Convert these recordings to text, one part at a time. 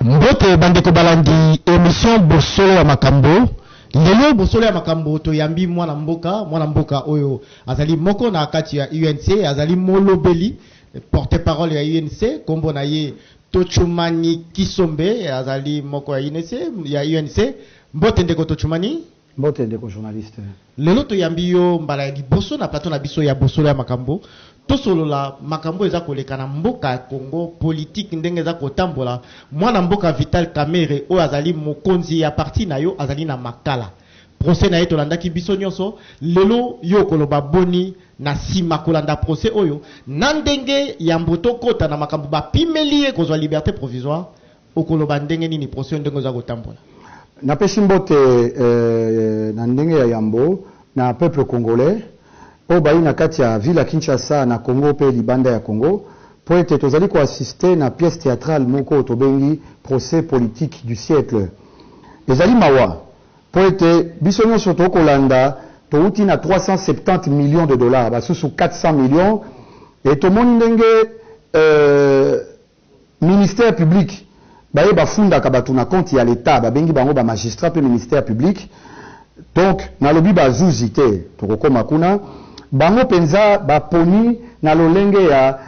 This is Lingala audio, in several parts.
mbote bandeko balandi emission bosolo ya makambo lelo bosolo ya makambo toyambi mwana mboka mwana mboka oyo azali moko na kati ya unc azali molobeli Porte parole ya UNC kombo na ye Tochumani Kisombe azali moko ya UNC ya UNC. Mbote ndeko Tochumani. Mbote ndeko journaliste. Lelo toyambi yo mbala ya liboso na plateau na biso ya bosolo ya makambo. Tosolola makambo eza koleka na mboka ya Congo, politique ndenge eza kotambola. Mwana mboka Vital Kamerhe oyo azali mokonzi ya parti na yo azali na Makala. Procès na ye tolandaki biso nionso, lelo yo okoloba boni? Na sima kolanda procès oyo na ndenge yambo tokota na makambo bapimeli ye kozwa liberte provisoire, okoloba ndenge nini procès oyo ndenge oza kotambola? Napesi mbote na ndenge ya yambo na peuple congolais oyo bayi na kati ya ville ya Kinshasa, na Congo mpe libanda ya Congo. Mpo ete tozali ko assister na pièce theatrale moko oyo tobengi procès politique du siècle. Ezali mawa mpo ete biso nionso to kolanda towuti na 370 millions de dollars, basusu 400 millions et tomoni ndenge euh ministère public, Baye bafundaka batu na compte ya l'etat babengi bango ba magistrats pe ministère public donc nalobi ba zuzi te tokokoma kuna bango penza baponi na lolenge ya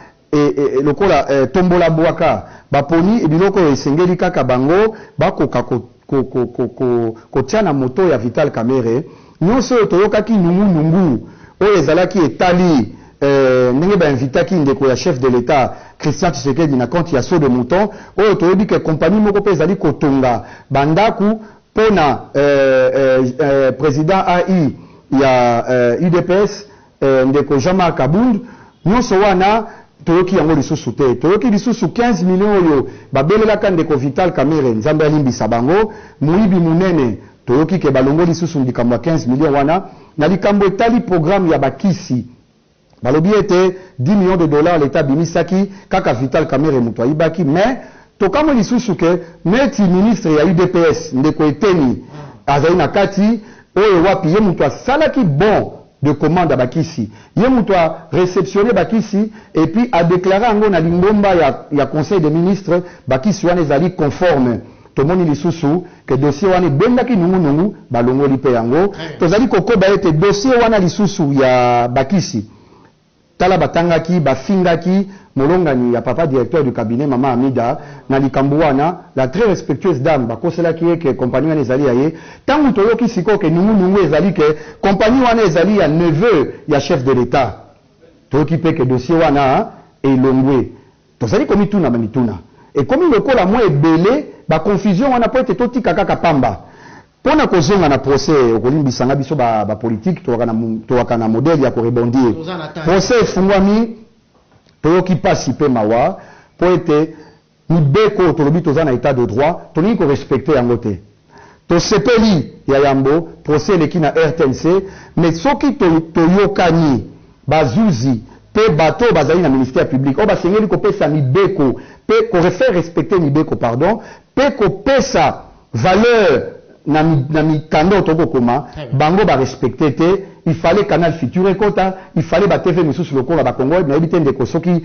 lokola tombola buaka baponi biloko oyo esengeli kaka bango bakoka ko ko ko ko ko kotia na moto ya Vital Kamerhe nionso oyo toyokaki nungu nungu oyo ezalaki etali eh, ndenge ba invitaki ndeko ya chef de l'Etat Christian Tshisekedi na compte ya Saut de Mouton oyo toyebi ke compagnie moko pe ezali kotonga ba ndaku pona eh, eh, eh, president AI ya eh, udps Eh ndeko Jean Marc Kabund, nionso wana toyoki yango lisusu te. Toyoki lisusu 15 millions oyo babelelaka ndeko Vital Kamerhe, Nzambe alimbisa bango, moyibi monene. Toyoki ke balongoli lisusu likambo ya 15 millions wana. Na likambo etali programme ya ba kisi, balobi ete 10 millions de dollars l'Etat abimisaki, kaka Vital Kamerhe mutu ayibaki. Mais tokamwe lisusu ke neti ministre ya udps ndeko Eteni azali na kati, oyo wapi ye mutu asalaki bon, de commande ya ba kisi, ye mutu a receptionner ba kisi et puis a declarer yango na lingomba ya ya conseil des ministres, ba kisi wana ezali conforme. Tomoni lisusu que dossier wana ebendaki nungu nungu, balongoli mpe yango. Tozali kokoba ete dossier wana lisusu ya ba kisi, Tala batangaki, bafingaki molongani ya papa directeur du cabinet mama Amida na likambo wana, la très respectueuse dame bakoselaki ye que compagnie wana ezali ya ye, tango toyoki sikoyo que nungu nungu ezali que compagnie wana ezali ya neveu ya chef de l'etat, toyoki pe que dossier wana elongwe. Tozali komituna bamituna. Ekomi lokola mwa ebele ba confusion wana mpo ete totika kaka pamba. Mpo na kozonga na procès, okolimbisa nga biso ba ba politiki tokaka na tokaka na modèle ya ko rebondir. Procès efungwami, toyoki mpasi mpe mawa mpo ete mibeko oyo tolobi toza na etat de droit, tolingi ko respecter yango te. Tosepeli ya yambo procès eleki na rtnc mais soki to toyokani ba zuzi pe bato oyo bazali na ministère public oyo basengeli kopesa mibeko pe ko faire respecter mibeko pardon pe kopesa valeur na na mikanda oyo tokoki kokoma bango ba respecter te il fallait canal futur ekota il fallait ba TV misusu lokola ba congo web nayebi te ndeko soki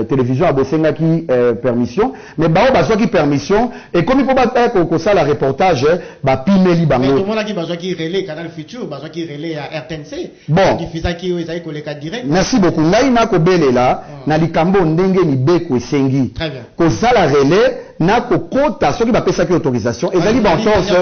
television ya bosengaki permission Mais baoyo bazwaki permission ekomi po baya kosala reportage ba pimeli bango. Mais tomonaki bazwaki relais canal futur, bazwaki relais ya rtnc ba diffusaki oyo ezali koleka direct. Merci beaucoup ngai nako belela na likambo oyo ndenge mibeko esengi kosala relais na kokota soki ba pesaki autorisation ezali ba entorse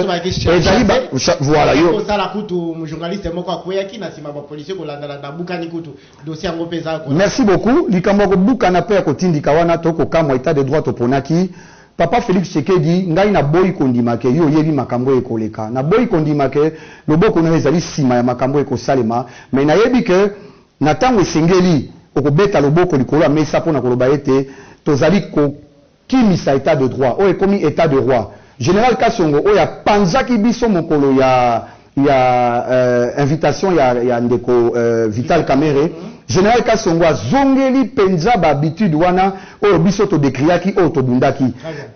ezali ba voilà yo. Eko sala kutu journaliste moko akweyaki na sima ba policiers kolanda landa abukani kutu. Dossier yango mpe eza ko. Merci beaucoup likambo ya kobukana mpe ya kotindika wana to kokamwa etat de droit toponaki Papa Felix Tshekedi ngai na boyi kondima ke yo oyebi makambo oyo ekoleka na boyi kondima ke loboko na yo ezali sima ya makambo oyo ekosalema mais nayebi ke na tango esengeli okobeta loboko likolo ya mesa mpo na koloba ete tozali ko Kimisa etat de droit oyo ekomi etat de roi general kasongo oyo apanzaki biso mokolo ya ya euh invitation ya ya ndeko euh vital kamerhe general kasongo azongeli penza ba habitudes wana oyo biso to decriaki oyo tobundaki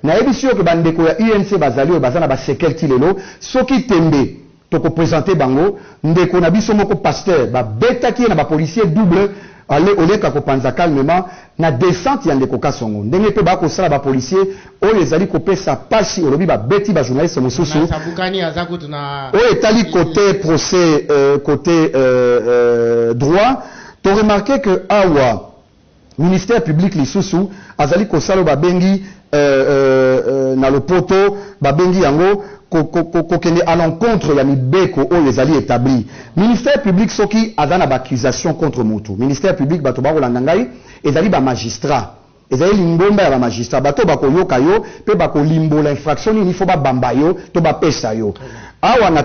nayebisi yo ke ba ndeko ya UNC bazali oyo baza na ba sequelles ti lelo soki tembe Toko presenter bango. Ndeko na biso moko pasteur ba betaki ye na ba policiers double aller au lieu ka ko panza calmement na descente ya ndeko Kasongo. Ndenge pe ba ko sala ba policiers oyo ezali ko pesa pasi olobi ba beti ba journalistes mususu. Oyo etali cote procès cote droit to remarquer que awa. Ministère public lisusu azali kosala oyo babengi na lopoto babengi yango kokende à l'encontre ya mibeko oyo ezali etabli. Ministère public soki aza na ba accusations contre mutu, ministère public batu bakolanda ngai ezali ba magistrats, ezali lingomba ya ba magistrats, batu oyo bakoyoka yo mpe bakolimbola infraction nini il faut babamba yo to bapesa yo. Awa na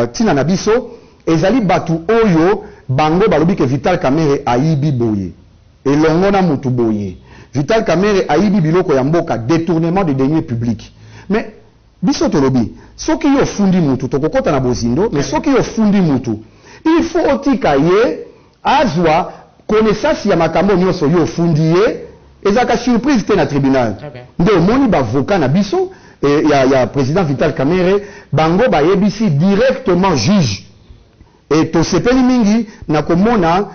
ntina na biso. Ezali batu oyo bango balobi ke vital kamerhe ayibi boye elongo na mutu boye vital kamerhe ayibi biloko ya mboka detournement de deniers public mais biso tolobi soki yo ofundi mutu tokokota na bozindo mais soki yo ofundi mutu il faut otika ye Azwa connaissance ya makambo nionso yo ofundi ye, ezalaka surprise te na tribunal. Nde omoni b'avocats na biso ya ya President Vital Kamerhe bango bayebisi directement juge et tosepeli mingi na komona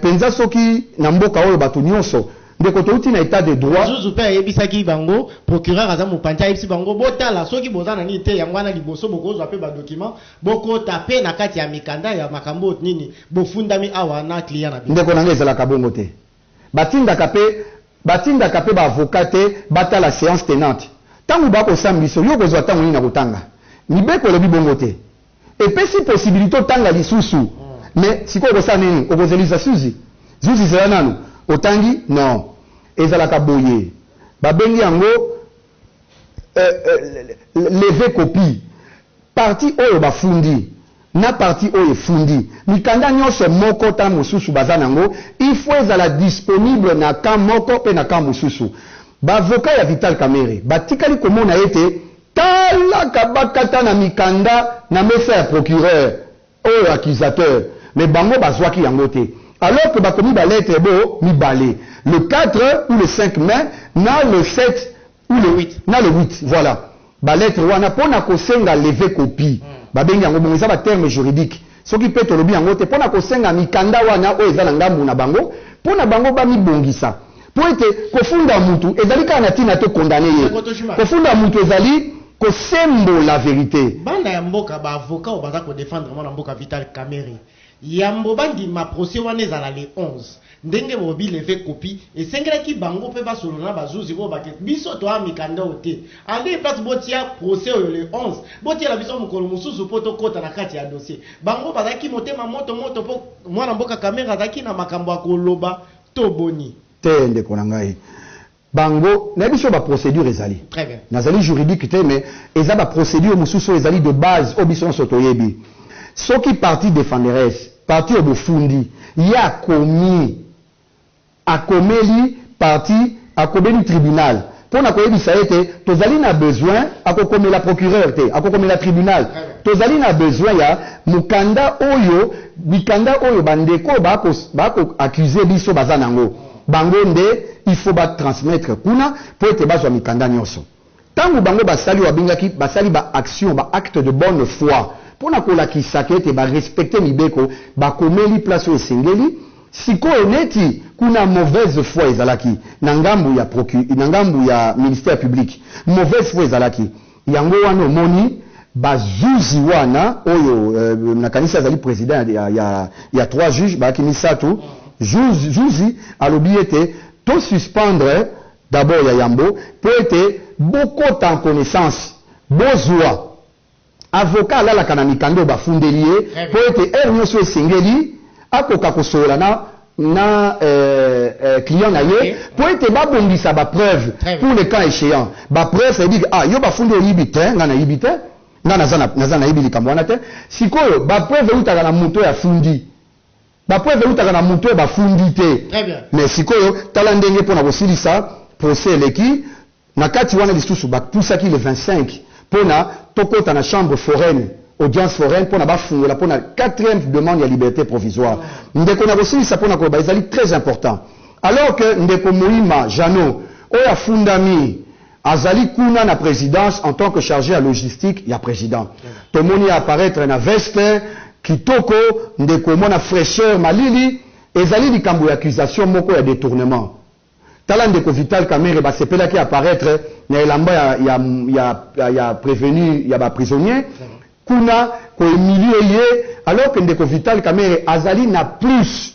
penza soki na mboka oyo bato nionso ndeko towuti na etat de droit. Zuzu pe ayebisaki bango procureur aza mopanzi ayebisi bango botala soki boza na nini te yango wana liboso bokozwa pe ba documents. Bokota pe na kati ya mikanda ya makambo nini bofundami awa na client na bino. Ndeko na nga ezalaka bongo te batindaka pe batindaka pe ba avocat te batala seance tenante tangu ba kosam biso yo okozua tango nini ya kotanga mibeko elobi bongo te epesi possibilite otanga lisusu mais sikoyo okosala nini okozelisa suzi zuzi zela nanu otangi non ezalaka boye babengi yango euh, euh, leve copie parti oyo bafundi na parti oyo efundi mikanda nyonso moko ta mosusu baza nango il faut ezala disponible na camp moko mpe na camp mosusu bavoka ya vital kamere batikali komona ete tala kabakata na mikanda na mesa ya procureur Oyo accusateur mais bango bazuaki yango te alors que bakomi ba lettres bo mibale le 4 ou le 5 mai na le 7 ou le 8 na le 8 voila ba lettres wana pona kosenga leve copie babengi yango bongo eza ba termes juridiques soki pe tolobi yango te pona kosenga mikanda wana oyo eza na ngambu na bango pona bango bamibongisa. Mpo ete kofunda mutu ezali kaka na tina to condamner ye. Kofunda mutu ezali kosembola verite. Bana ya mboka ba avocats oyo baza ko defendre mwana mboka Vital Kamerhe yambo ba ndima procès wana ezala le 11 ndenge bo bi lever copie esengelaki bango pe ba solola na ba zuzi oyo ba ke biso to a mikanda oyo te en de place bo tia procès oyo le 11 bo tiela biso mokolo mosusu po to kota na kati ya dossier bango bazalaki motema moto moto po mwana mboka Kamerhe azalaki na makambo ya ko loba to boni? Te ndeko na ngai. Bango, nayebi soki ba procedures ezali. Très bien. Nazali juridique te mais eza ba procedures mosusu oyo ezali de base oyo biso nionso toyebi. Soki partie defenderesse, partie oyo bofundi, ye akomi, akomeli partie. Akobeli tribunal mpo na koyebisa ye ete tozali na besoin, akokomela procureur te, akokomela tribunal, tozali na besoin ya mokanda oyo, mikanda oyo bandeko oyo bako, bako accuser biso baza na yango. Bango nde il faut ba transmettre kuna mpo ete bazwa mikanda nionso. Tango bango basali oyo babengaki basali ba actions, ba actes de bonne foi, mpo na kolakisaka ete ba respecter mibeko, bakomeli place oyo esengeli, sikoyo neti kuna mauvaise foi ezalaki na ngambu ya procu, na ngambu ya ministère public, mauvaise foi ezalaki, yango wana omoni ba zuzi wana oyo, nakanisi azali president ya, ya, ya trois juges, bayaki misatu, zuzi, zuzi alobi ete to suspendre. D'abord ya yambo mpo ete bokota en connaissance, bozua avocat alalaka na mikanda oyo bafundeli ye mpo ete heure nionso oyo esengeli akoka kosolola na na client na ye mpo ete babongisa ba preuves pour le cas echeant. Ba preuves ça veut dire que ah yo bafundi oyibi? Tein, ngai nayibi te, ngai naza naza nayebi likambo wana te. Sikoyo ba preuves ewutaka na moto oyo afundi. Ba preuves ewutaka na mutu oyo bafundi te mais sikoyo tala ndenge pona kosilisa procès eleki na kati wana lisusu ba pusaki le 25 pona tokota na chambre foraine, audience foraine, pona bafungola pona quatrième demande ya liberte provisoire ndeko nakosilisa pona koloba ezali très important alors que ndeko Moima Jeannot oyo afundami Azali kuna na presidence en tant que charge ya logistique ya president. Tomoni a apparaitre na veste kitoko ndeko omona fraicheur malili ezali likambo ya accusation moko ya detournement. Tala ndeko Vital Kamerhe basepelaki a apparaitre na elamba ya ya ya ya prevenu ya ba prisonniers kuna ko humilier ye alors que ndeko Vital Kamerhe azali na plus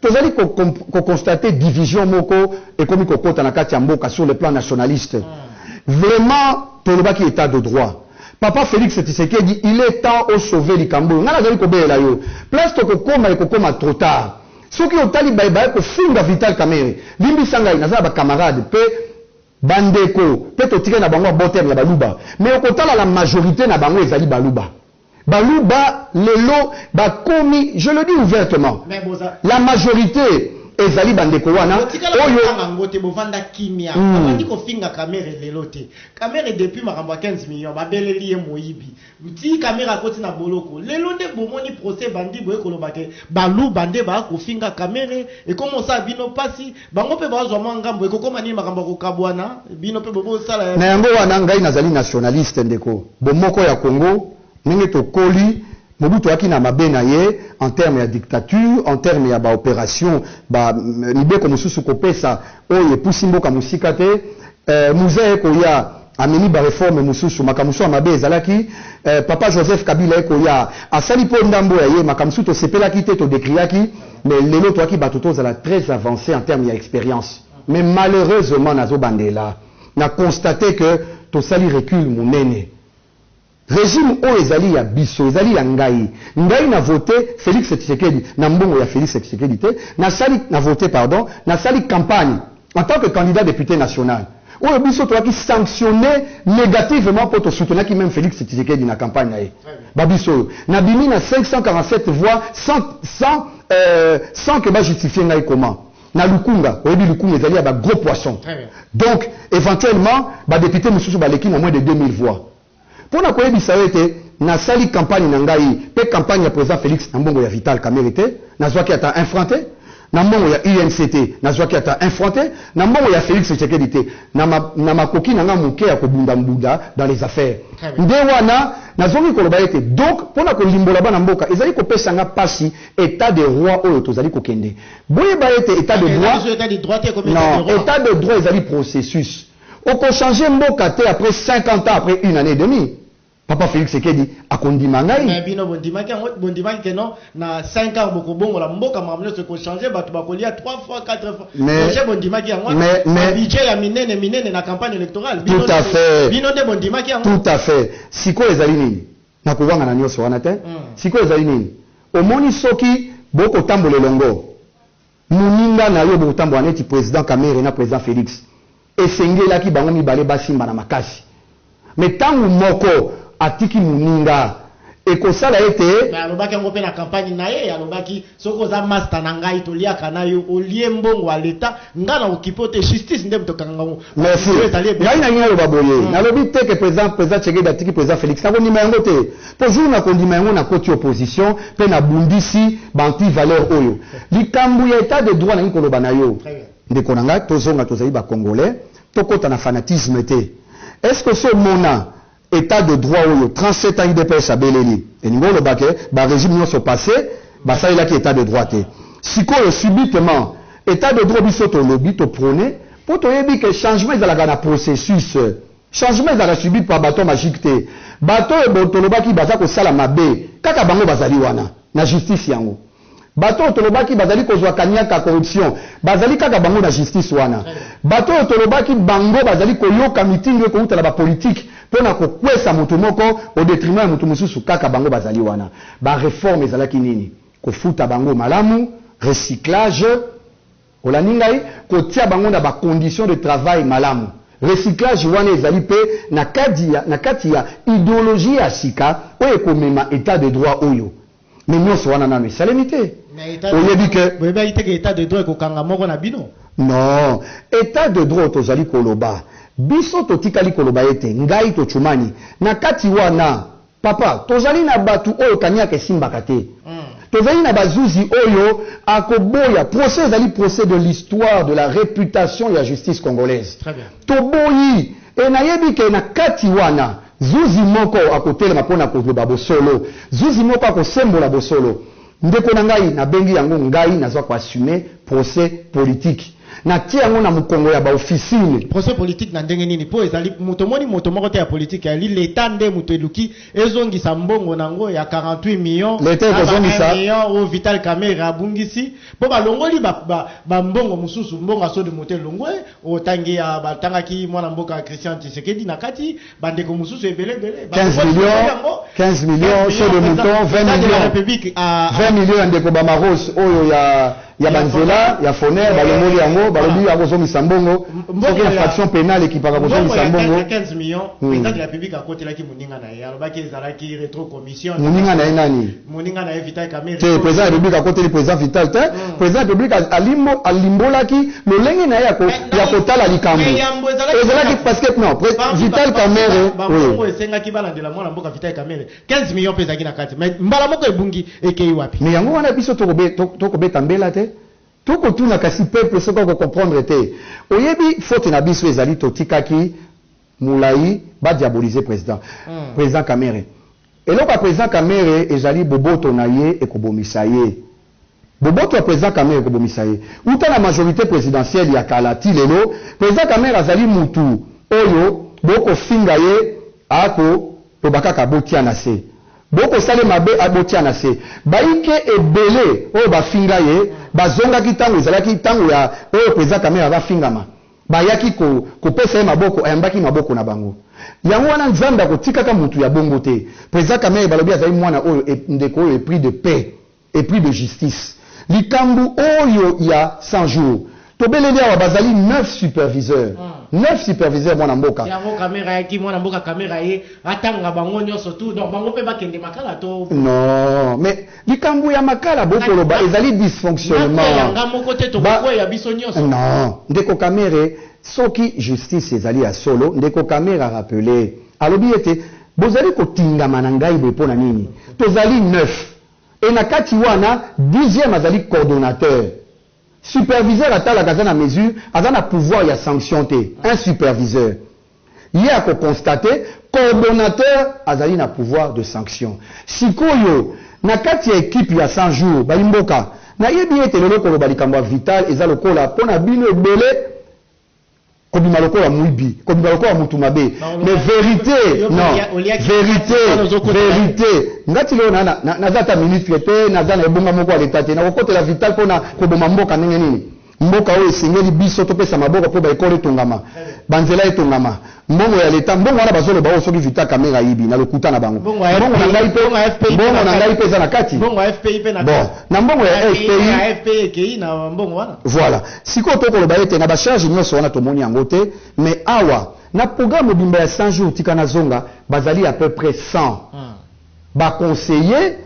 Tozali ko ko constater division moko ekomi kokota na kati ya mboka sur le plan nationaliste. Vraiment tolobaki etat de droit. Papa Felix Tshisekedi il est temps o sauver likambo oyo. Ngai nazali kobelela yo place tokokoma ekokoma trop tard. Soki otali baye baye kofunda Vital Kamerhe limbisa ngai naza na ba camarades mpe ba ndeko mpe totikali na bango ba botem ya baluba mais okotala la majorite na bango ezali baluba. Baluba lelo bakomi je le dis ouvertement la majorite ezali ba ndeko wana oyo botikala kotanga ngo te bovanda kimia bavandi kofinga kamere lelo te kamere depuis makambo ya 15 millions babeleli ye moyibi tii kamere akoti na boloko lelo nde bomoni procès ebandi boye koloba ke baluba nde ba kofinga kamere ekomi osala bino pasi Bango pe bazwa mwa ngambo. Ekokoma nini? Makambo ya kokabuana. Bino pe bo bosala ya. Na yango wana ngai nazali nationaliste ndeko. Bomoko ya Congo ndenge tokoli, Mobutu ayaki na mabe na ye en terme ya dictature, en terme ya ba operations, ba mibeko mosusu kopesa oyo epusi mboka mosika te. Eh muze eko ya amemi ba reforme mususu makamusu ya mabe ezalaki eh papa Joseph kabila eko ya asali po ndambo ya ye makamusu to sepelaki te to decriaki mais lelo toaki batu to zala tres avance en terme ya experience mais malheureusement nazo bandela na constate que tosali recule munene. Regime oyo ezali ya biso, ezali ya ngai. Ngai na vote Felix Tshisekedi na mbongo ya Felix Tshisekedi te, na sali, na vote pardon, na sali campagne en tant que candidat depute national oyo biso toyaki sanctionner negativement mpo to soutenaki meme Felix Tshisekedi na campagne na ye. Ba biso oyo na bimi na 547 voix sans, sans, euh, sans que ba justifier ngai comment? Na lukunga, oyebi lukunga ezali ya ba gros poissons. Donc, eventuellement, ba deputes mosusu baleki na moins de 2000 voix. Mpo na koyebisa yo ete nasali campagne na ngai mpe campagne ya President Felix na mbongo ya Vital Kamerhe te, nazwaki ata un franc te, na mbongo ya UNC te, nazwaki ata un franc te, na mbongo ya Felix Tshisekedi te, na ma, na makoki na ngai moke ya kobunda mbunda dans les affaires. Nde wana nazongi koloba ete, donc, mpo na kolimbola bana mboka, ezali kopesa ngai pasi etat de roi oyo tozali kokende. Boyeba ete etat de droit, non, etat de droit ezali processus. Oko changer mboka te après 50 ans après une annee et demi papa Felix Tshsiekedi ako ndima ngai. Mais bino bo ndimaki yango bo ndimaki que non na cinq ans boko bongola mboka makambo nionso eko changer batu bako lia trois fois quatre fois projet bo ndimaki yango wana ba budget ya minene minene na campagne electorale bino nde bino nde bo ndimaki yango. Tout à fait sikoyo ezali nini nako wangana nionso wana te sikoyo ezali nini omoni soki boko tambola elongo. Muninga na yo bokotambola neti president kamere na president felix esengelaki bango mibale basimbana makasi mais tangu moko atiki muninga ekosala ete. Mais alobaki yango pe na campagne naye alobaki soki oza masta na ngai toliaka nayo olie mbongo ya l'etat ngai na okipe yo te justice nde mutu ekanga ngo merci ngai nalingi naloba boye nalobi te ke president president tshegedi atiki president felix nakondima yango te. Po jour na kondima yango na koti opposition pe na bundisi ba anti valeurs oyo. Likambo ya etat de droit nalingi koloba na yo ndeko na ngai tozonga tozali ba congolais tokota na fanatisme te. Est ce que osi omona etat de droit oyo 37 ans udps abeleli? Elingi oloba que ba regimes nionso passes basalelaki etat de droit te. Sikoyo subitement etat de droit biso tolobi to proner po toyebi que changement ezalaka na processus. Changement ezalaka subi par baton magique te, bato oyo bo tolobaki baza kosala mabe kaka bango bazali wana na justice yango bato oyo tolobaki bazali kozua kaniaka, corruption, bazali kaka bango na justice wana bato oyo tolobaki bango bazali koyoka mitindo ekowuta na ba politique pona kokuesa moto moko au detriment ya moto mosusu kaka bango bazali wana ba reforme ezalaki nini kofuta bango malamu recyclage Olandi ngai? Kotia bango na ba conditions de travail malamu. Recyclage wana ezali mpe na kadi ya, na kati ya ideologie ya sika oyo ekomema etat de droit oyo. Mais nionso wana nanu esalemi te. Mais etat de Oyebi que. droit, boyebaki te que etat de droit ekokanga moko na bino? Non. Etat de droit oyo tozali koloba, biso totikali koloba ete, ngai Tshumani, na kati wana, Papa, tozali na batu oyo kaniaka esimbaka te. Tozali na bazuzi oyo akoboya. Procès ezali procès de l'histoire de la reputation ya justice congolaise. Toboyi et nayebi que na kati wana zuzi moko akotelema pona koloba bosolo. Zuzi moko akosembola bosolo. Ndeko na ngai na bengi yango ngai naza ko assume procès politique na tie yango na mukongo ya ba officine. Procès politique na ndenge nini po ezali moto omoni moto moko te ya politique ali l'etat nde moto eluki ezongisa mbongo na ngo ya 48 millions na ba 1 million oyo vital kamerhe abungisi po ba longoli ba ba mbongo mususu mbongo ya sode moto elongwe otangi ya ba tangaki mwana mboka christian tshisekedi na kati bandeko mosusu ebele ebele 15 millions 15 millions chez de mouton 20 millions 20 ah, ah. millions ya ndeko bamaros oyo ya ya banzela ya foner balongoli yango balobi akozongisa mbongo soki infraction pénale ekipaka kozongisa mbongo 15 millions hmm. président de la république akotelaki moninga na ye alobaki ezalaki rétro Moninga na ye nani? Te, President ya Republique akoteli President Vital te. President ya Republique alimbolaki lolenge na ye ya kotala likambo. Ezalaki parce que, non, Vital Kamerhe, oui. Mais yango wana biso tokobeta mbela te. Tokotuna kasi peuple soki ako comprendre te. Oyebi faute na biso ezali totikaki. mulayi ba diaboliser president president kamere eloko ya president kamere ezali boboto na ye ekobomisa ye boboto ya president kamere ekobomisa ye uta na majorite presidentielle ya kala ti lelo president kamere azali mutu oyo boko finga ye ako loba kaka botia na se boko sale mabe a botia na se baike ebele oyo ba finga ye ba zongaki tango ezalaki tango ya oyo president kamere aza fingama Bayaki ko, kopesa ye maboko, ayambaki maboko na bango. Yango wana, Nzambe akotikaka mutu ya bongo te. President Kamerhe balobi azali mwana oyo e, ndeko oyo epris de paix, epris de justice. Likambu oyo ya 100 jours, tobeleli awa, bazali neuf superviseurs, neuf superviseurs, mwana mboka. Yango Kamerhe ayaki, mwana mboka Kamerhe aye, atanga bango nionso tout, donc bango pe bakende makala to? Non, mais. Likambo ya makala boko loba ezali disfonctionnement. Nakweya nga moko te toko kweya biso nyoso. Non ndeko kamere soki justice ezali ya solo ndeko kamere a rappele alobi ete bozali kotingama na ngai boye pona nini tozali neuf et na kati wana dixieme azali cordonateur. Superviseur atalaka aza na mesure aza na pouvoir ya sanction te un superviseur ye ako constate coordonateur azali na pouvoir de sanction sikoyo na kati ya equipe ya 100 jours bayi mboka na yebi ete lelo koloba likambo ya vital eza lokola pona bino ebele kobima lokola muibi kobima lokola mutu mabe mais verite non verite verite nga ti lelo naza ata ministre te naza na ebonga moko ya leta te nakokotela vital mpona koboma mboka ndenge nini mboka oyo esengeli biso topesa maboko mpo baekole etongama banzela etongama mbongo ya leta mbongo wana bazoloba oyo soki vital kamere ayibi na lokuta na bango mbongo na ngai mpe eza na kati bon na mbongo ya fpi voilà Sikoyo to koloba ete na ba charges nionso wana tomoni yango te, mais awa na programme mobimba ya 100 jours tika nazonga, bazali à peu près 100 ba conseillers,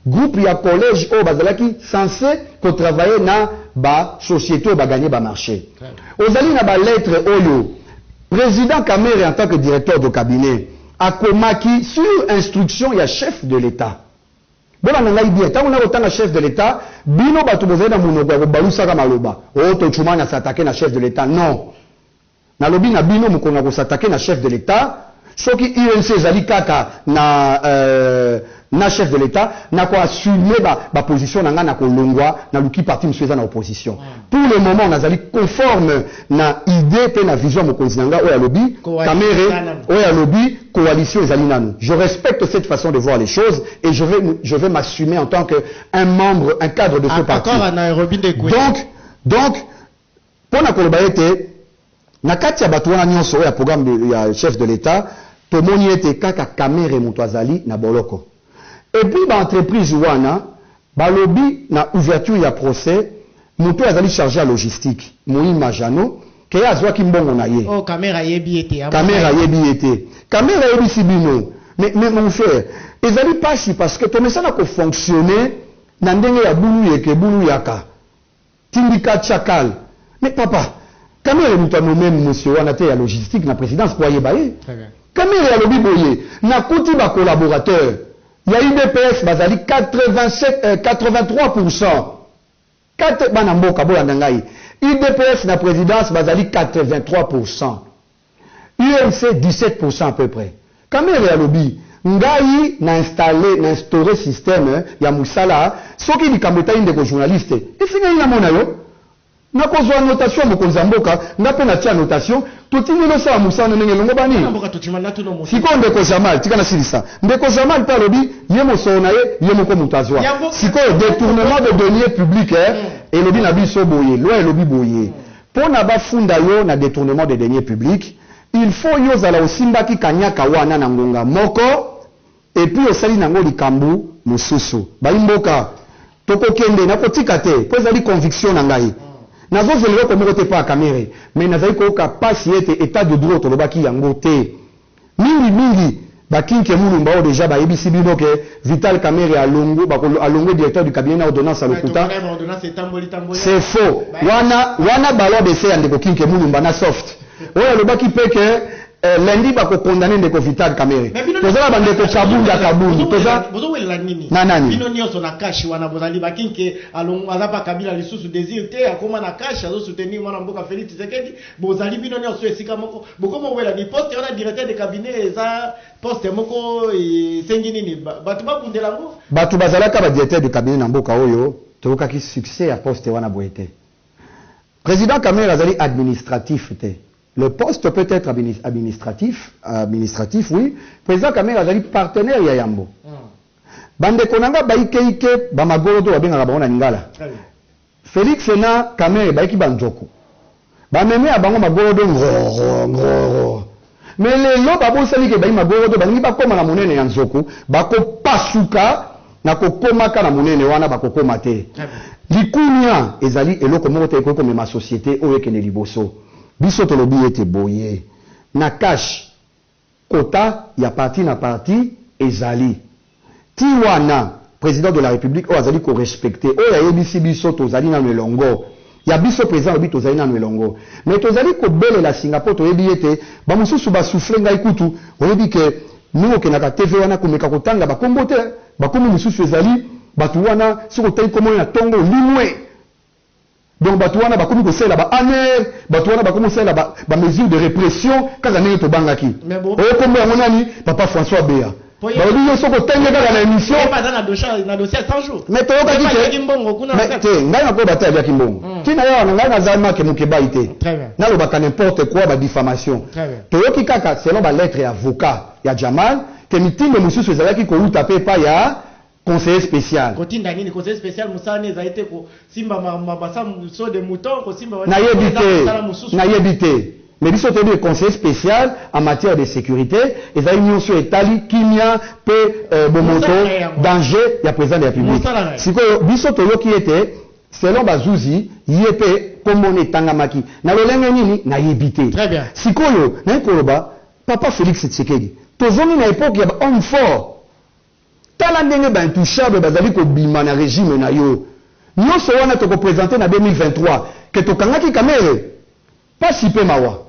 groupe ya collège oyo bazalaki cense ko travailler na ba societes oyo ba gagner ba marches. Ozali na ba lettres oyo President Kamerhe en tant que Directeur de Cabinet akomaki sur instruction ya Chef de l'Etat. Bolanda ngai bien tango nako tanga chef de l'etat bino batu bozali na munoko ya kobalusaka maloba oh tochumani a s'attaquer na chef de l'etat non nalobi na bino mukolo nako s'attaquer na chef de l'etat soki UNC ezali kaka na euh, na chef de l'etat nako assumer ba ba position na ngai nako longua naluki parti mususu eza na opposition Pour le moment nazali conforme na idee mpe na vision ya mokonzi na ngai oyo alobi, Kamerhe, oyo alobi coalition ezali nanu. Je respecte cette façon de voir les choses et je vais, je vais m'assumer en tant que un membre, un cadre de ce parti. Donc, donc, mpo na koloba ete. Na kati ya batu wana nionso oyo ya programme de ya chef de l'etat tomoni ete kaka Kamerhe mutu azali na boloko. Et puis ba entreprises wana balobi na ouverture ya procès mutu oyo azali charge ya logistique Muhima Jeannot que ye azuaki mbongo na ye. Oyo Kamerhe ayebi ye te, amona ye te. Kamerhe ayebi ye te. Kamerhe ayebisi bino. Mais, mais mon frère, ezali pasi parce que tomesana ko fonctionner na ndenge ya bulu yeke bulu yaka. Tindika chacal mais papa Kamere mutu a nomme monsieur wana te ya logistique na presidence po ayeba ye. Kamere alobi boye nakuti ba collaborateurs ya udps bazali 83 pourcent kate bana mboka bolanda ngai udps na presidence bazali 83 pourcent. UNC 17 pourcent à peu près. Kamerhe alobi ngai na installer na instaurer système ya musala soki likambo etali ndeko journaliste esi ngai namona yo nakozua notation ya mokonzi ya mboka nga pe natia notation totindeli osala musala na ndenge elongobani. Sikoyo ndeko Jamal tika nasilisa ndeko Jamal pe alobi ye mosolo na ye ye moko mutu azua sikoyo detournement de deniers publics elobi na biso boye loi elobi boye Pona ba funda yo na detournement de deniers publics, il faut yo ozala osimbaki kaniaka wana na ngonga moko et puis osali na yango likambu mususu. Bayi mboka, toko kende, nako tika te po ezali conviction na ngai. Nazo zela eloko moko te epa ya Kamerhe, mais nazali ko yoka pasi ete etat de droit tolobaki yango te. Mingi mingi ba kinke mulumba oyo dejà ba yebisi bino que vital kamerhe alongwe ba ko alongwe directeur du cabinet na ordonnance ya lokuta c'est faux wana wana ballon d'essai ya ndeko kinke mulumba na soft oyo alobaki pe que lundi ba ko condamne ndeko vital kamerhe toza na ba ndeko kabunda kabund toza na nani bino nioso na cache wana bozali ba kinke alongwe aza pa kabila lisusu desir te akoma na cache azo soutenir muana mboka felix tshisekedi Bozali bino nionso esika moko boko mowela ni poste wana directeur de cabinet eza poste moko esengi nini batu babundela ngo. Batu bazalaka ba directeur de cabinet na mboka oyo toyokaki succès ya poste wana boye te. President Kamerhe azali administratif te. Le poste peut etre administratif, administratif oui, President Kamerhe azali partenaire ya yambo. Ba ndeko na nga ba ike ike, ba magorodo babengaka bango na lingala. Felix na Kamerhe bayiki ba nzoku ba meme ya bango magorodo ngororo ngororo mais lelo babosani ke bayi magorodo balingi bakoma na monene ya nzoku bakopasuka na kokomaka na monene wana bakokoma te likunia ezali eloko moko te ekoki komema societe oyo ekende liboso biso tolobi ete boye nakash Quota ya parti na parti ezali ti wana president de la republique oyo azali ko respecter oyo ayebisi biso tozali nanu elongo ya biso president alobi tozali nanu elongo mais tozali kobelela singa po toyebi yete ba mosusu ba souffler ngai kutu oyebi que ndenge okendaka TV wana komeka kotanga ba kombo te ba kombo mosusu ezali batu wana soki otangi kombo na tongo olimue. Donc batu wana bakomi kosalela ba annees, batu wana bakomi kosalela ba, ba mesures de repression kaka ndenge tobangaki. Mais bo. Oyo kombo yango nani? Papa François Bea. Po ye. Balobi yo soki otangi ye kaka na emission. Ye pe aza na dosha, na dossier ya 100 jours. Mais toyokaki que. Ye pe aliaki mbongo kuna na kati. Te, ngai nakoyeba te aliaki mbongo. Tina ya wana ngai naza Marc Mukebayi te. Très bien. Nalobaka n'importe quoi, ba diffamations. Très bien. Toyoki kaka selon ba lettres ya avocat ya Jamal que mitindo mosusu ezalaki kowuta pe epai ya. Conseiller special. Kotinda nini conseiller special musala naye ezali te ko simba ma ma ba sa so de mouton ko simba ba Nayebi eza te musala mususu. nayebi te mais biso toyebi que conseiller special en matière de securite ezali nionso oyo etali kimia pe bomoto Musala naye yango wana. danger ya president de la republique Musala naye. sikoyo biso toyoki ete selon ba zuzi ye pe kombo naye etangamaki na lolenge nini nayebi te Très bien. sikoyo naye koloba papa Felix Tshisekedi tozongi na epoque ya ba homme fort Tala ndenge ba intouchables bazali kobima na regime na yo. Nionso wana toko presenter na 2023 que tokangaki Kamerhe? Pasi pe mawa.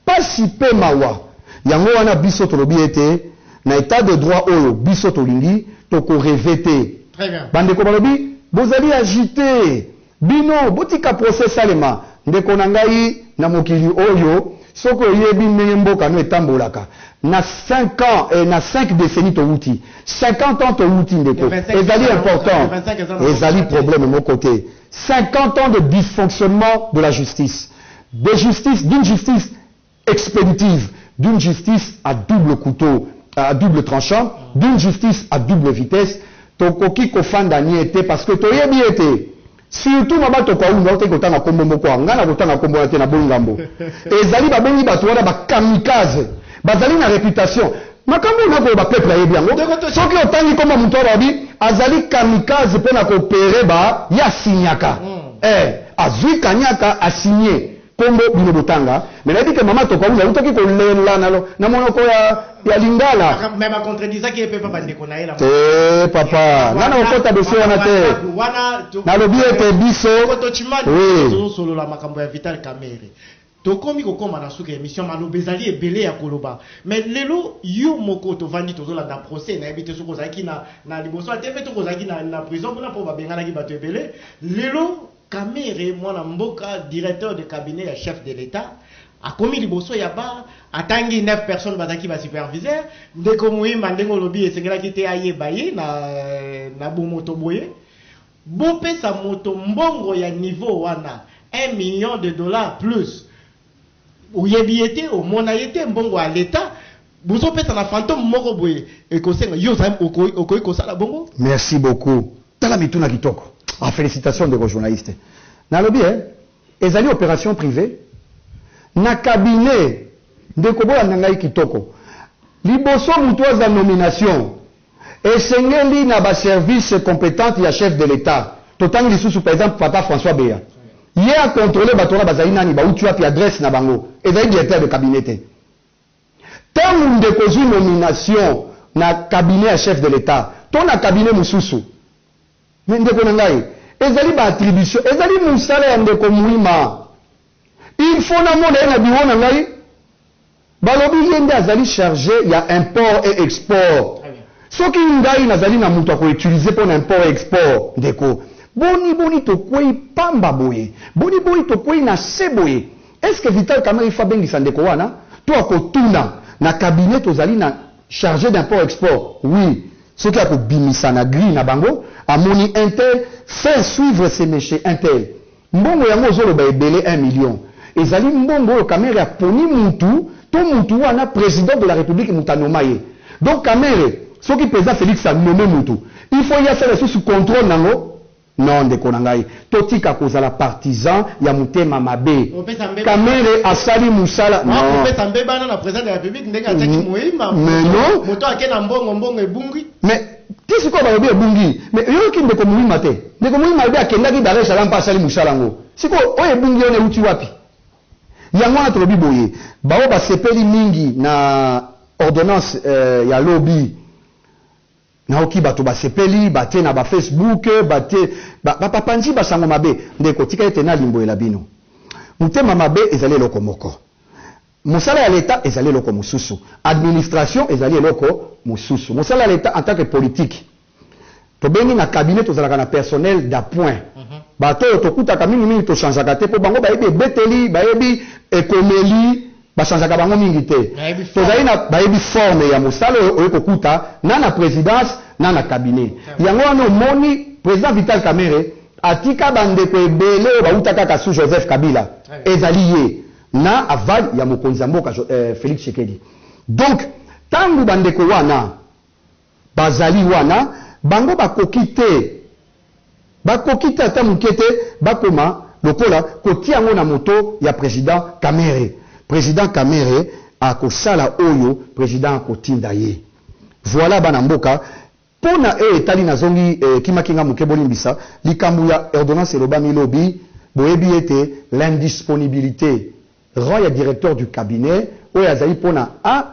Pasi pe mawa. Yango wana biso tolobi ete na etat de droit oyo biso tolingi, toko rever te. Ba ndeko balobi bozali agiter. Bino botika procès esalema ndeko na ngai na mokili oyo soki oyebi ndenge mboka no etambolaka na cinq ans eh na cinq decennies towuti 50 ans towuti ndeko ezali important ezali problème moko te 50 ans de dysfonctionnement de la justice de justice d'une justice Expeditive d'une justice à double couteau à double tranchant, d'une justice à double vitesse, tokoki kofanda nye te parce que toyebi ete surtout Maba Tokaundu, nautaki kotanga kombo moko awa, ngai nakotanga kombo wana te, naboyi ngambo, ezali babengi batu wana ba kamikaze, bazali na reputation, makambo oyo nakoloba peuple ayebi yango, soki otangi kombo ya mutu awa balobi azali kamikaze pona ko operer ba, ye asignaka, ee, azui kanyaka, a signer. kombo bino botanga mais nayebi ke maman tokaula awutaki kolela na na monoko ya ya lingala mais ba contredisaki ye pe pa bandeko na ye na te papa nga na kokota dossier wana te nalobi ete biso oui tozosolola makambo ya vital kamerhe tokomi kokoma na suka ya emission maloba ezali ebele ya koloba mais lelo yo moko tovandi tozolanda procès nayebi te soki ozalaki na na liboso ya tv to kozalaki na na prison kuna mpo babenganaki bato ebele lelo Kamerhe mwana mboka directeur de cabinet ya chef de l'etat akomi liboso ya ba atangi 9 personnes bazalaki ba superviseur ndeko muhima ndenge olobi esengelaki te ayeba ye na na bomoto boye bopesa moto mbongo ya niveau wana un million de dollars plus Oyebi ye te, omona ye te, mbongo ya l'etat bozo pesa na fantome moko boye ekosenga yo oza okoki kosala bongo? Merci beaucoup tala mituna kitoko ah felicitations ndeko journaliste nalobi eh ezali operation privee na cabinet ndeko bolanda ngai kitoko liboso mutu aza nomination Esengeli na ba services competentes ya chef de l'Etat. Totangi lisusu par exemple papa François Beya. Ye a controler bato wana bazali nani, bawuti wapi, adresse na bango. Ezali directeur de cabinet te. Tango ndeko ozui nomination na cabinet ya chef de l'Etat to na cabinet mosusu, Mais ndeko na ngai, ezali ba attributions, ezali musala ya ndeko Muima. Il faut namona ye na bureau na ngai. Balobi ye nde azali charge ya import et export. Soki ngai nazali na mutu ya ko utiliser pona import et export, ndeko, boni boni tokweyi pamba boye? Boni boni tokweyi na se boye? Est-ce que Vital Kamerhe il faut abengisa ndeko wana? To akotuna na cabinet tozali na Charge d'import export oui soki ako bimisa na grille na bango amoni un tel faire suivre ce monsieur un tel mbongo yango ozo loba ebele un million ezali mbongo oyo kamerhe aponi mutu to mutu wana president de la republique mutu a noma ye donc kamerhe soki president felix a nomme mutu il faut ye asala lisusu controle nango Non ndeko na ngai totika kozala partisan ya mutema mabe kamere asali musala non mais non mais ti sikoyo balobi ebungi mais oyoki ndeko muhima te ndeko muhima alobi akendaki dar es salam pe asali musala yango sikoyo oyo ebungi wana ewuti wapi yango wana tolobi boye baoyo basepeli mingi na ordonnance ya lobi Nayoki bato basepeli, batie na ba Facebook, batie ba, ba, bapanzi basango mabe. Ndeko, tika ete nalimbolela bino. Motema mabe ezali eloko moko. Mosala ya Leta ezali eloko mosusu. Administration ezali eloko mosusu. Mosala ya Leta en tant que politique, tobengi na cabinet, tozalaka na personnel d'appoint. Bato oyo tokutaka mingi mingi to changeaka te mpo bango bayebi ebeteli, bayebi ekomeli Ba changeaka bango mingi te. Tozali na bayebi forme ya mosala oyo oye kokuta na na presidence na na cabinet. Yango wana omoni President Vital Kamerhe atika ba ndeko ebele oyo bawuta kaka sous Joseph Kabila, ezali ye na aval ya mokonzi ya mboka Felix Tshisekedi. Donc tango ba ndeko wana. Bazali wana, bango bakoki te, bakoki te ata moke te bakoma lokola, kotia yango na moto ya President Kamerhe. President Kamerhe akosala oyo President akotinda ye. Voila bana mboka. Mpo na oyo etali, nazongi, ekimaki nga moke, bolimbisa, likambo ya ordonnance elobami lobi, boyebi ete l'indisponibilite rend ya Directeur du Cabinet oyo azali mpo na a,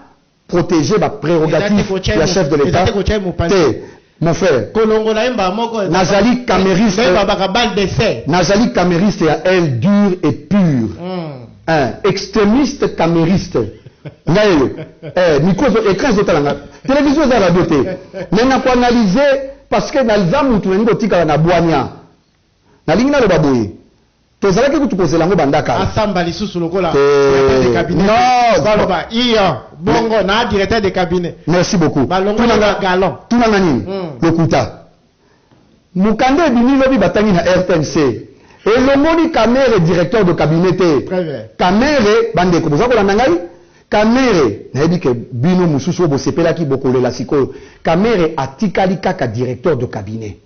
proteger ba prerogatives ya chef de l'Etat te mon frère. Kolongola ye mbala moko. Nazali kameriste. Nde babaka balle d'essai. Nazali kameriste ya aile dure et pure. Mm. Hein, extremiste kameriste. ngai yo eh, micro ezo écran ezotala nga télévision eza radio te mais nakoanalyse parce que naza mutu nalingi kotikala na bwania nalingi naloba boye Tozalaki kutu kozela yango banda kala. Asamba lisusu lokola directeur de cabinet te. Baloba iyo, bongo na directeur de cabinet. Merci beaucoup. Balongoli ba galon. Tuna nga nini? Lokuta. Mukanda ebimi lobi batangi na rtnc. Elongoli Kamerhe directeur de cabinet te. Kamerhe, bandeko boza kolanda ngai? Kamerhe, nayebi que bino mosusu oyo bosepelaki bokolela sikoyo. Kamerhe atikali kaka directeur de cabinet.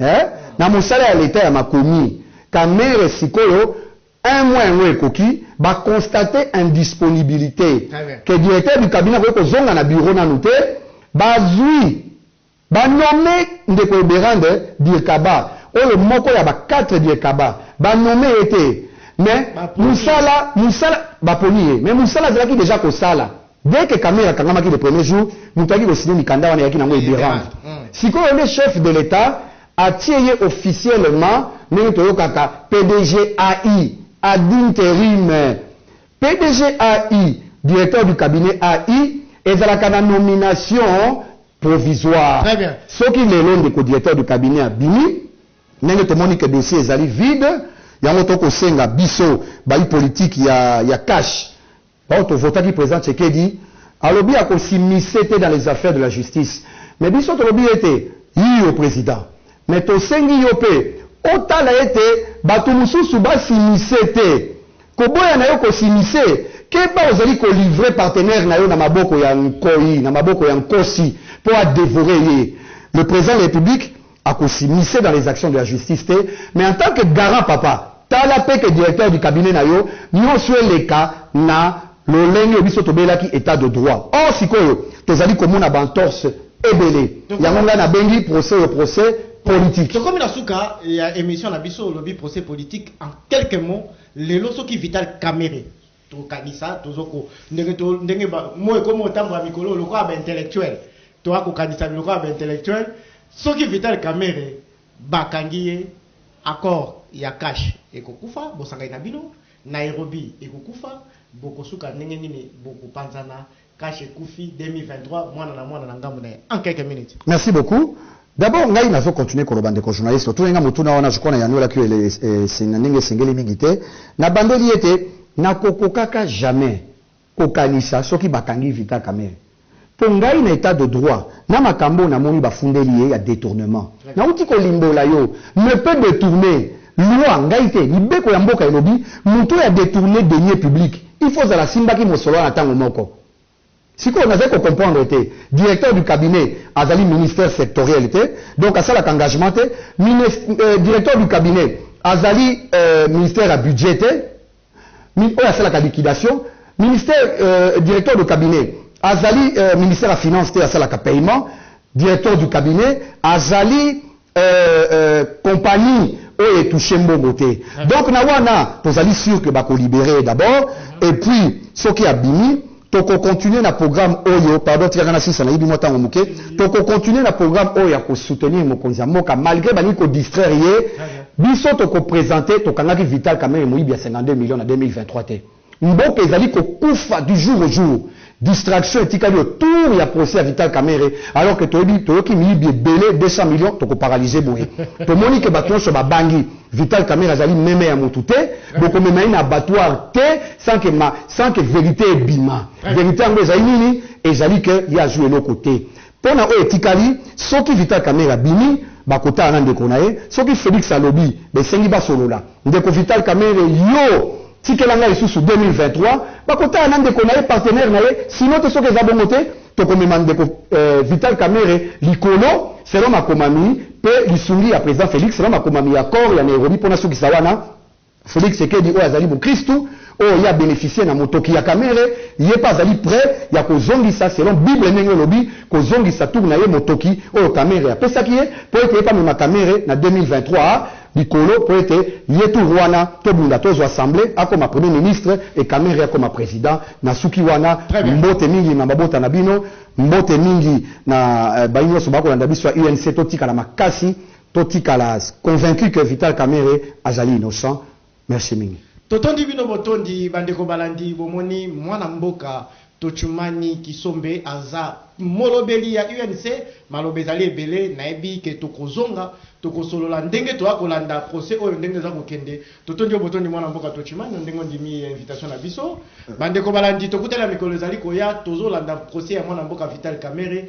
Eh? Na mosala ya l'etat ya makomi. Kamerhe sikoyo un mois yango ekoki, ba constate indisponibilite que directeur du cabinet akoki kozonga na bureau nanu te, bazui ba nomme ndeko Eberande Dirkaba oyo moko ya ba quatre Dirkaba, ba nomme ye te mais musala musala baponi ye mais musala azalaki dejà kosala. Dès que camion akangamaki le premier jour, mutu ayaki ko signer mikanda wana eyaki na ngo Eberand. Sikoyo nde chef de l'Etat atie ye officiellement ndenge toyokaka PDGAI, ad interim. PDGAI, Directeur du Cabinet AI, ezalaka na nomination provisoire. Soki lelo ndeko Directeur du Cabinet abimi, ndenge tomoni que dossier ezali vide, yango tokosenga biso bayi politique ya cash, Baoyo to votaki president Tshekedi alobi ako s'immiscer te dans les affaires de la justice mais biso tolobi ete iyo president mais tosengi yo mpe otala ete bato mosusu ba s'immiscer te. Koboya na yo ko s'immiscer, keba ozali ko livrer partenaire na yo na maboko ya nkoyi, na maboko ya nkosi mpo a devorer ye. Le president de la Republique. Ako s'immiscer dans les actions de la justice te mais en tant que garant papa tala pe que directeur du cabinet na yo nionso eleka na lolenge biso tobelaki etat de droit or sikoyo tozali komona ba entorses ebele yango ngai nabengi procès oyo procès politique. Tokomi na suka ya emission na biso olobi procès politique en quelques mots lelo soki vital kamerhe. Tokanisa tozo ko ndenge to ndenge ba moi ekomi kotambola mikolo oyo lokola ba intellectuel toa kokanisa lokola ba intellectuel soki Vital Kamerhe bakangi ye accord ya cash ekokufa bosangani na bino Nairobi ekokufa bokosuka ndenge nini bokopanzana Cash ekufi 2023 mwana na mwana na ngambo na ye en quelques minutes. Merci beaucoup. D'abord ngai nazo continuer koloba ndeko journaliste otuni nga motuna wana je crois na yanuelaki yo ele- es- es- na ndenge esengeli mingi te nabandeli ete nakokokaka jamais kokanisa soki bakangi Vital Kamerhe mpo ngai na etat de droit na makambo oyo namoni bafundeli ye ya detournement nauti kolimbola yo ne peut detourner loi ngai te mibeko ya mboka elobi moto oyo a detourner denier public Il faut ozala asimbaki mosolo wana tango moko. Sikoyo nazali ko comprendre te, directeur du cabinet azali ministre sectoriel te, donc asalaka engagement te, minest, euh, directeur du cabinet azali euh, ministère ya budget te, mi, oyo asalaka liquidation, ministère euh, directeur de cabinet azali euh, ministère ya finance te, asalaka paiement, directeur du cabinet azali Euh, euh, compagnie oyo etouche mbongo te ah. donc na wana tozali sur que bakolibere d'abord ah. et puis soki abimi tokocontinue na programme oyo pardon tikaka na sisa nayebi mwa ntango moke tokocontinue na programme oyo ya kosoutenir mokonzi ya mboka malgré balingi kodistraire ye biso tokopresente tokangaki vital kamere moyibi ya 52 million na 2023 te Mboka ezali ko kufa du jour au jour. Distraction etikali au tour ya procès ya Vital Kamerhe alors que toyebi toyoki miyibi ebele 200 millions toko paralyse boye. Tomoni que batu nionso ba bangi. Vital Kamerhe azali meme ya mutu te. Boko mema ye na abattoir te sans que ma sans que verite ebima. Verite yango ezali nini? Ezali que ye azui eloko te. Pona oyo etikali soki vital kamerhe abimi bakotala na ndeko na ye soki felix alobi besengi basolola ndeko vital kamerhe yo tikela ngai lisusu 2023 bakotala na ndeko na ye partenaire na ye sinon te soki eza bongo te tokomema ndeko vital kamerhe likolo selon makomami pe lisungi ya president felix selon makomami ya accord ya nairobi pona sukisa wana Felix Tshsekedi oyo azali mokristu oyo ye a beneficier na motoki ya Kamerhe, ye pe azali pret ya kozongisa selon bible ndenge olobi, kozongisa tour na ye motoki oyo Kamerhe apesaki ye po ete ye pe amema Kamerhe na 2023 likolo po ete ye tour wana tobunda tozua assemblee akoma premier ministre et Kamerhe akoma president. Nasuki wana. Très bien. Mbote mingi na mabota na bino. Mbote mingi na bayi nionso bakolanda biso ya UNC. Totikala makasi. To tikala's convaincu que Vital Kamerhe azali innocent. Merci mingi. Totondi bino botondi bandeko balandi bomoni mwana mboka tochumani kisombe aza molobeli ya UNC maloba ezali ebele nayebi ke tokozonga tokosolola ndenge toya kolanda procès oyo ndenge eza kokende totondi yo botondi mwana mboka tochumani na ndenge ondimi invitation na biso bandeko balandi tokutani na mikolo ezali koya tozolanda procès ya mwana mboka vital kamerhe